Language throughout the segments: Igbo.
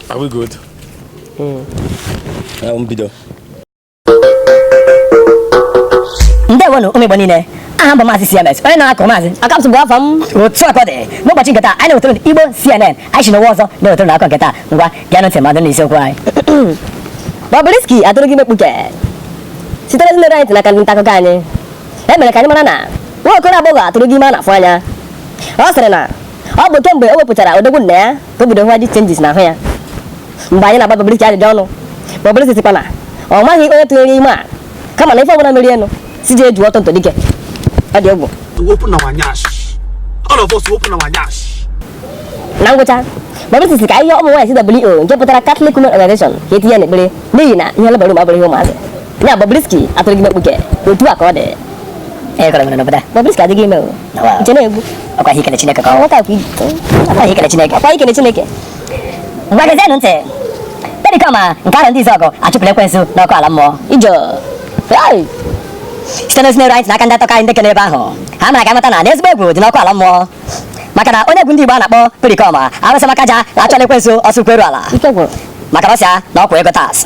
Are we good? Mm. Uh, um, bido. Ndewonu ụmụ Igbo niile aha m bụ maazị CMS onye na-akụ maazị akamsụ bụ afọ m otu a ka ọ dị n'ụbọchị nke taa anyị na-ewetara Igbo CNN anyị si n'ụwa ọzọ na-ewetara unu akụkọ nke taa ngwa bịa ntị mmadụ na isiokwu anyị Bobrisky atụrụgo ime mkpuke sitere n'ihe ruru anyị n'aka ndị nta akụkọ anyị e mere ka anyị mara na nwa okoro agbọghọ atụrụgo ime a na-afụ anya ọ sịrị na ọ bụ kemgbe o wepụtara odogwu nna ya ka o bido hụwa the changes n'ahụ ya mgbe anyị na-agba Bobrisky ajụjụ ọnụ Bobrisky sịkwa na ọ maghị onye tụnyere ime a kama na ife ọbụla mere enu si ji eju ọtọ ntọdike ọ dị egwu na ngwụcha Bobrisky sị ka ihe ụmụ nwaanyị CWO nke pụtara Catholic Women Organization ka etinye n'ekpere n'ihi na ihe labour room abụrọ ihe ụmụazị ya Bobrisky atụrụgo ime mkpuke otu a ka ọ dị Ee, kọrọ nwere n'obodo a. Bobrisky adịgo ime o. Nawa. Nche na-egbu. Ọkwa ihe ikele Chineke ka ọ. Nwata akwa Ọkwa ihe ikele Chineke. Ọkwa ikele Chineke. Ngwa gezienụ ntị. Pericoma nke Arọndizuọgụ achụpụrụ ekwensu n'ọkụ ala mmụọ. Ijọ. Ai. Site n'ozi na-eru anyị n'aka ndị nta akụkọ anyị ndị kere ebe ahụ. Ha mere ka anyị mata na ezigbo egwu dị n'ọkụ ala mmụọ. Maka na onye egwu ndị Igbo a na-akpọ Pericoma Arụsị Makaja achụọla ekwensu ọsọ ụkwụ eru ala. Ike gwụrụ. Maka na ọ sị ya na ọ kwụa ego tax.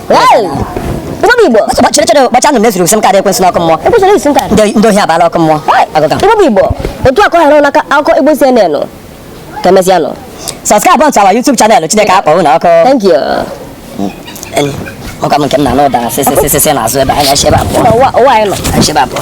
Igbo Igbo ọsọ chere chere ụbọchị ahụ mezuru SIM card ekwensu n'ọkụ mmụọ ekwensu ji SIM card ndị ndị ohi abaala ọkụ mmụọ agụga Igbo bụ Igbo otu a ka ọ hara n'akụkọ Igbo CNN ka emesịa nụ subscribe onto our YouTube channel Chineke akpọ unu ọkụ thank you ọkwa m nke m na-anụ ụda sịsịsịsị n'azụ ebe anya ebe abụọ ụwa anyị nọ ebe abụọ